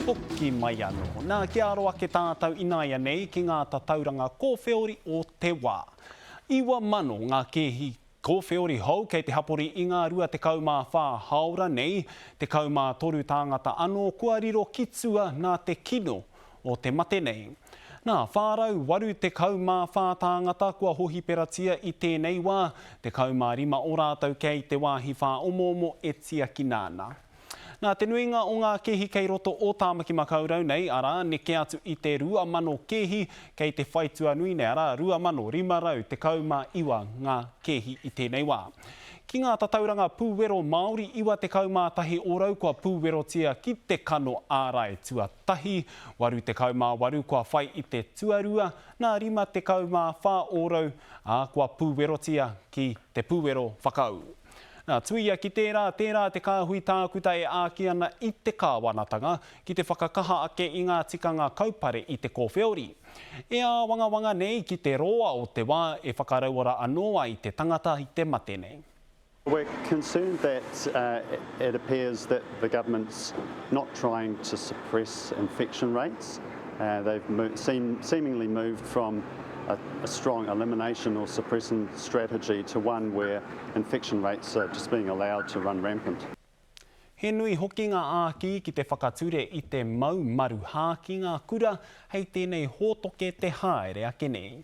Hoki mai anō. Nā, kia aro ake tātau ināianei ki ngā tatauranga kōwheori o te wā. Iwa mano ngā kēhi kōwheori hou kei te hapori i ngā 24 hāora nei, 13 tāngata anō kua riro ki tua nā te kino o te mate nei. Nā, 484 tāngata kua hohiperatia i tēnei wā, 15 o rātau kei te wāhi whāomoomo e tiakina ana. Nā te nuinga o ngā kēhi kei roto o Tāmaki Makaurau nei, arā, neke atu i te 2,000 kēhi, kei te whai tuanui nei, arā, 2,519 ngā kēhi i tēnei wā. Ki ngā tatauranga pūwero Māori, 91 ōrau kua pūwerotia ki te kano ārai tuatahi, 88 kua whai i te tuarua, nā 54 ōrau, ā, kua pūwerotia ki te pūwero whakaū. Nā, tuia ki tērā, tērā te kāhui tākuta e āki ana i te kāwanatanga ki te whakakaha ake i ngā tikanga kaupare i te kōwheori. E āwangawanga nei ki te roa o te wā e whakarauora anō ai te tangata i te mate nei. We're concerned that it appears that the government's not trying to suppress infection rates. They've seemingly moved from a strong elimination or suppression strategy to one where Infection rates are just being allowed to run rampant. He nui hoki ngā āki ki te whakature i te mau maruhā ki ngā kura hei tēnei hōtoke te haere ake nei.